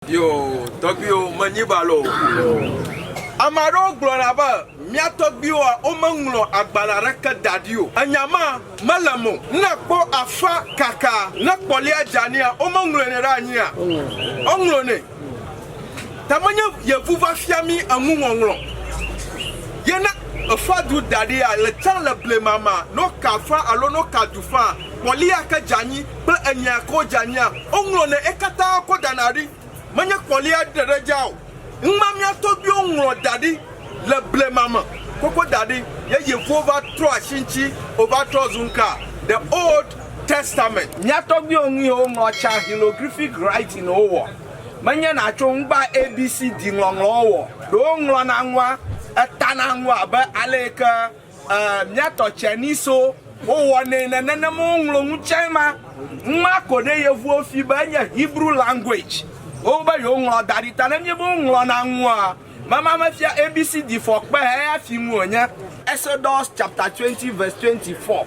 Yo, tɔgbuiwo, menyi balo o. Ame aɖewo gblɔna be mía tɔgbuiwoa, womeŋlɔ agbalẽ aɖeke da ɖi o. Enya ma mele eme o. Ne èkpɔ afã kaka, ne kpɔlia dzeanɛa, womeŋlɔnɛ ɖe anyia? Woŋlɔnɛ. Ta menye yevu va fia mí eŋuŋɔŋlɔ ye. Ne èfã du da ɖia, le tsã le blema mea, ne woka afã alo ne woka du faa, kpɔlia ke dze anyi. kple enyea ko dzeanyia woŋlɔnɛ ekatã ko dana ɖi menye kpɔlia ɖe ɖe dza o ŋma mia tɔgbiwo ŋlɔ daɖi le blema me koko daɖi ye yevuwo va trɔ asi ŋti wova trɔ zu ŋka the old testament. Mia tɔgbiwo ŋu ye woŋlɔ tsa hilogriphic writing wo wɔ menye natso ŋgba abcd ŋlɔŋlɔwo wɔ ɖewo ŋlɔna ŋua etana ŋua abe aleyike E, mia tɔ tsɛ ni so. Wo wɔ ne ne ne ne mo ŋlo ŋu tsɛ ma. Ŋma ko ne yevuo fi be enye Hebrew language. Wo be yo ŋlɔ da ɖi ta ne mie be wo ŋlɔ na ŋua. Me ma me fia ABC di fɔ kpe he ya fi ŋuo nye. Exodus chapter 20 verse 24.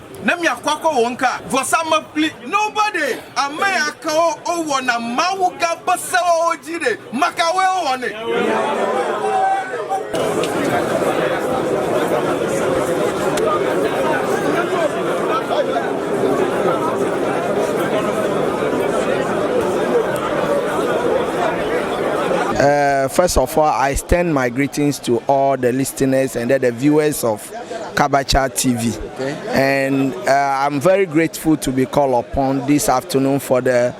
Ne mia kɔ akɔ wɔ ŋka vɔsa mekpli. Noba ɖe ameya kawo o wɔna Mawu gã be sewawo dzi ɖe makawoe o wɔnɛ. Uh, first of all, I extend my greetings to all the listeners and the viewers of Kabacha TV and uh, I'm very grateful to be called upon this afternoon for the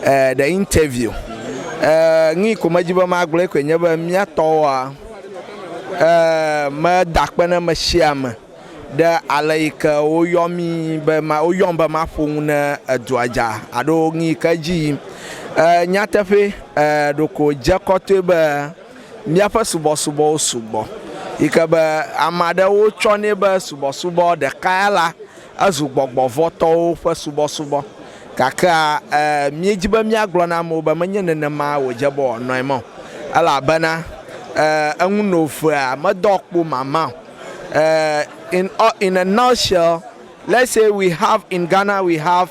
uh, the interview. Uh, ngi ko me jibe ma gblɔ ko nye be mia tɔwa uh, me da kpe ne me shia me ɖe ale yi ke woyɔ mi be ma woyɔ be ma ƒo nu ne edua dza alo ngi ke dzi yim. Uh, nyateƒe uh, ɖoko dze kɔtɔe be Míaƒe subɔsubɔwo sugbɔ yi ke be ame aɖewo tsɔnɛ be subɔsubɔ ɖeka ya la, ezu gbɔgbɔ vɔ̃ tɔwo ƒe subɔsubɔ. Gakea, e, míedi be míagblɔ na amewo be menye nenema wòdze be wòanɔ eme o, elabena, e, eŋu no ʋea, medɔ kpo mama o. E, in, in a nutshell, let's say we have, in Ghana we have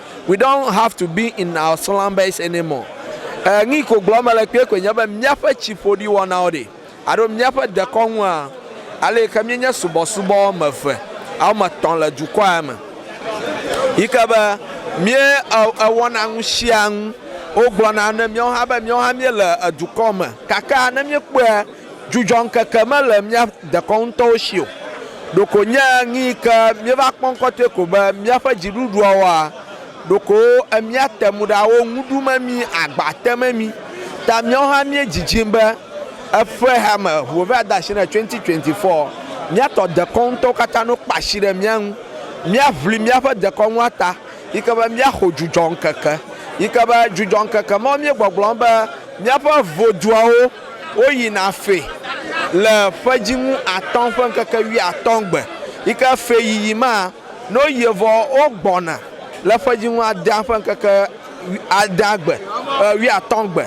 We don't have to be in our slumbers anymore. Ɛɛ, nu yi ko gblɔm mele kpuie koe nye be míaƒe tsiƒoɖiwɔnawo ɖe, alo míaƒe dekɔnua, ale yi ke míenye subɔsubɔ wɔme eve alo wɔme etɔ̃ le dukɔa ya me, yi ke be míe e, ewɔna nu sia nu, wogblɔna ne míawo hã be míawo hã míele edukɔ me. Gake ne míekpɔe, Dzudzɔŋkeke mele mía dekɔnu ŋutɔwo si o, ɖeko nye ŋi yi ke míeva kpɔ ŋkɔtɔe ko be míaƒe dziɖuɖuawoa, ɖeko emia te ŋu ɖa wo ŋu ɖum emi, agba tem emi. Ta míawo hã míe dzidzim be eƒe hea me ŋu wova de asi ne 2024 mía tɔ dekɔnu ŋutɔwo katã no kpa asi ɖe mía ŋu. Mía ʋli míaƒe dekɔnua ta yi ke be mía xo dzudzɔŋkeke yi ke be dzudzɔŋkeke mawo míe gbɔgblɔm be míaƒe voduawo. Woyina fe le ƒedzinu atɔ̃ ƒe ŋkeke wuiatɔ̃ gbe, yi ke feyiyi ma, ne woyie vɔ, wogbɔna le ƒedzinu adea ƒe ŋkeke adea gbe, wuiatɔ̃ gbe.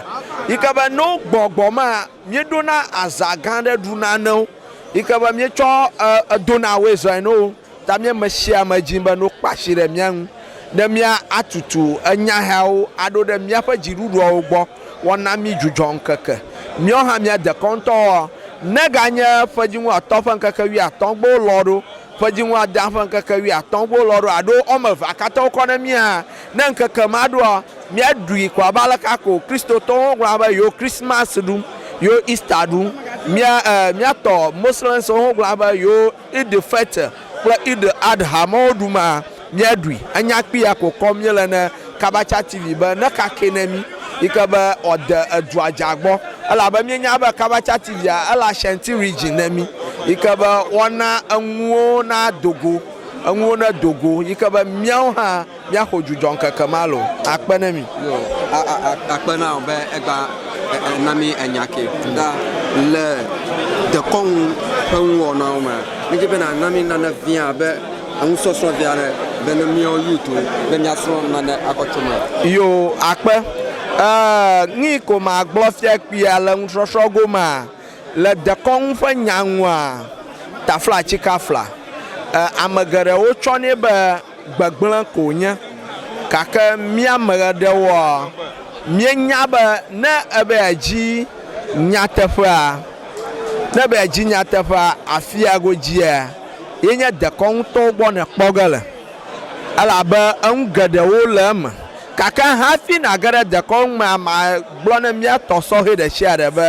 Yi ke be ne wogbɔ gbɔ ma, míeɖona azã gã aɖe ɖuna na wo, yi ke be míetsɔ dona woe zɔe na wo. Ta mía me sia me dzi be no kpa asi ɖe mía ŋu ne mía a tutu enya hɛawo a ɖo ɖe mía ƒe dziɖuɖuawo gbɔ wɔ na mí dzudzɔ ŋkeke. Míɔ hã mía dekɔ ŋutɔ ɔ, ne ga nye ƒedziŋu atɔ ƒe ŋkeke wui atɔ gbo lɔ ɖo, ƒedziŋu adea ƒe ŋkeke wui atɔ gbo lɔ ɖo aɖo ɔ me vea katã wokɔ ne mí hã. Ne ŋkeke ma ɖo ɔ, mía ɖui ko abe aleke a ko Kristotɔwo ho gblɔna be yewo Christmas ɖum, yewo Easter ɖum. Mía ɛ, mía tɔ Moslems wo ho gblɔna be yewo. Eid al-Fitr kple Eid al-Adha mawo ɖum a? Míaɖui. Enya kpi ya ko kɔm míele ne Kabacha TV be nekakɛ ne mí yi ke be wòade edua dza gbɔ elabe míenya be Kabacha TV a ele Ashanti Region ne mí yi ke be woana enuwo nado go, enuwo nedo go yi ke be míawo hã. Míaxo dzudzɔ ŋkeke ma loo. Akpe ne mi. Yo, a, a, a, akpe na wò be ègba e, e, na mí enya ke. Ɖa, le dekɔnu ƒe nuwɔnawo me, mídi be nàna mí nane vɛ̃ abe enusɔsrɔ̃ vɛ̃ aɖe, be ne míawo Yuitwo, be míasrɔ̃ nane akɔ tso eme. Yo, akpe. E, nui ko magblɔ fia kpuia le nusɔsrɔ̃ gomea? Le dekɔnu ƒe nya ŋua, taflatsikafla, e, ame geɖewo tsɔnɛ be. Gbegblẽ ko wònye. Gake mía ame aɖewoa, míenya be ne ebe yeadzi nyateƒea, ne ebe yeadzi nyateƒea, afia godzia, ye nye dekɔnu ŋutɔwo gbɔ nèkpɔ ge le, elabe enu geɖewo le eme. Gake hafi nàge ɖe dekɔnu mea, magblɔ ne mía tɔ sɔhɛ ɖe sia ɖe be,